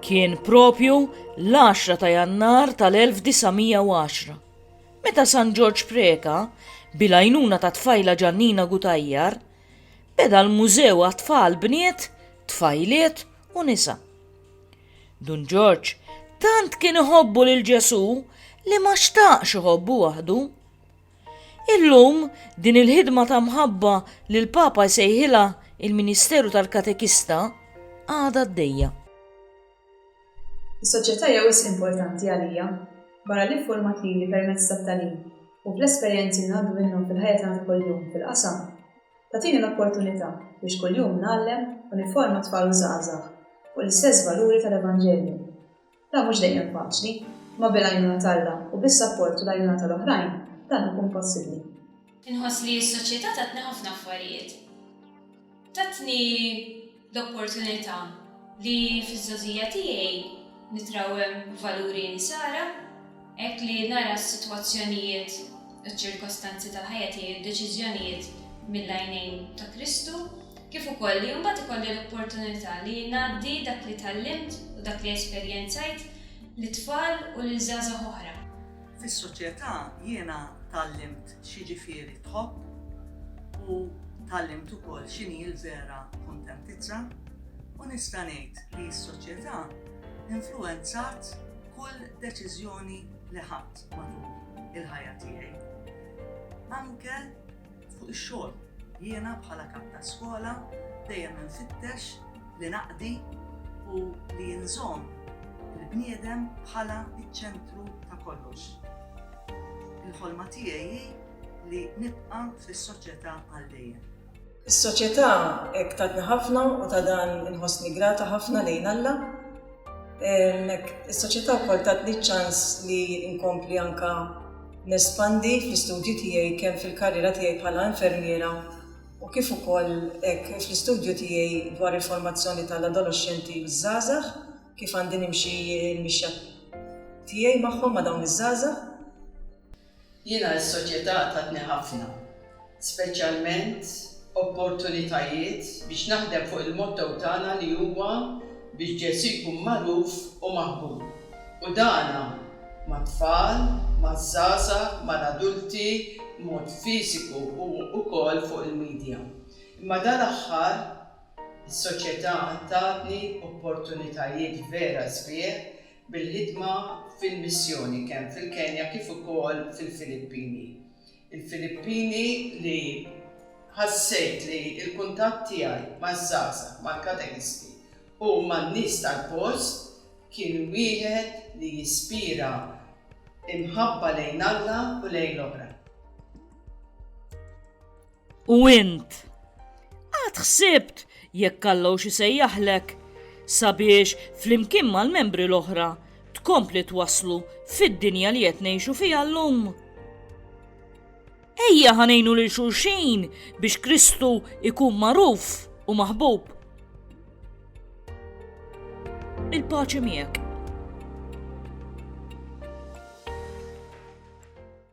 Kien propju l-10 ta' jannar tal-1910, meta San Ġorġ Preka, bil-għajnuna ta' tfajla Ġannina Gutajjar, beda l-mużew għat-tfal bniet, tfajliet u nisa. Dun Ġorġ tant kien iħobbu lil Ġesu li ma xtaqx iħobbu waħdu. Illum, din il-ħidma ta' mħabba li l-Papa jsejħilha il-ministeru tal-katekista għadha għaddejja. Is-soċjetà hija wisq importanti għalija, barra li ffurmat lili permezz tat-tagħlim u bl-esperjenzi li ngħaddu minnhom fil-ħajja tagħna ta' kuljum fil-qasam, tagħtini l-opportunità biex kuljum ngħallem u nifforma tfal u żgħażagħ fuq l-istess valuri tal-Evanġelju. Dan mhux dejjem faċli, imma bil-għajnuna t'Alla u bis-sapport u l-għajnuna tal-oħrajn, dan ikun possibbli. Inħoss li s-soċjetà tatni ħafna affarijiet. Tatni l-opportunità li fiż-żgħożija tiegħi nitrawwem valuri Insara. Hekk li nara s-sitwazzjonijiet u ċ-ċirkostanzi tal-ħajja tiegħi u d-deċiżjonijiet mill-għajnejn ta' Kristu, kif ukoll li mbagħad ikolli l-opportunità li ngħaddi dak li tgħallimt u dak li esperjenzajt lit-tfal u lil żgħażagħ oħra. Fis-soċjetà jiena tgħallimt x'jiġifieri tħobb u tgħallimt ukoll x'inhi l-vera kuntentizza u nista' ngħid li s-soċjetà influwenzat Kull deċiżjoni li ħadt matul il-ħajja tiegħi, anke fuq ix-xogħol, jiena bħala kap ta' skola dejjem infittex li naqdi u li nżomm il-bniedem bħala ċ-ċentru ta' kollox. Il-ħolma tiegħi hi li nibqa' fis-soċjetà għal dejjem. Is-soċjetà hekk tatni ħafna u ta' dan inħossni grata ħafna lejn Alla. Is-soċjetà wkoll tatni ċ-ċans li nkompli anke nespandi fl-istudji tiegħi kemm fil-karriera tiegħi bħala infermiera u kif ukoll hekk fl-istudju tiegħi dwar il-formazzjoni tal-adoloxxenti u ż-żgħażagħ, kif għandi nimxi l-mixja tiegħi magħhom ma' dawn iż-żgħażagħ. Jiena s-soċjetà tatni ħafna, speċjalment opportunitajiet biex naħdem fuq il-motto tagħna li huwa biex Ġesù jkun magħruf u maħbub. U dan mat-tfal, maż-żgħażagħ, mal-adulti, b'mod fiżiku u wkoll fuq il-midja. Imma dal-aħħar is-soċjetà tatni opportunitajiet vera sbieħ bil-ħidma fil-missjoni kemm fil-Kenja kif ukoll fil-Filippini. Il-Filippini li ħassejt li l-kuntatt tiegħi maż-żgħażagħ, mal-katekisti u man-nies tal-post kien wieħed li jispira imħabba lejn Alla u lejn l-oħrajn. U int? Għad ħsibt jekk Allow xi sejjaħlek sabiex flimkien mal-membri l-oħra tkompli twaslu fid-dinja li qed ngħixu fiha llum? Ejja ħanejnu lil xulxin biex Kristu ikun magħruf u maħbub. Il-paċi miegħek.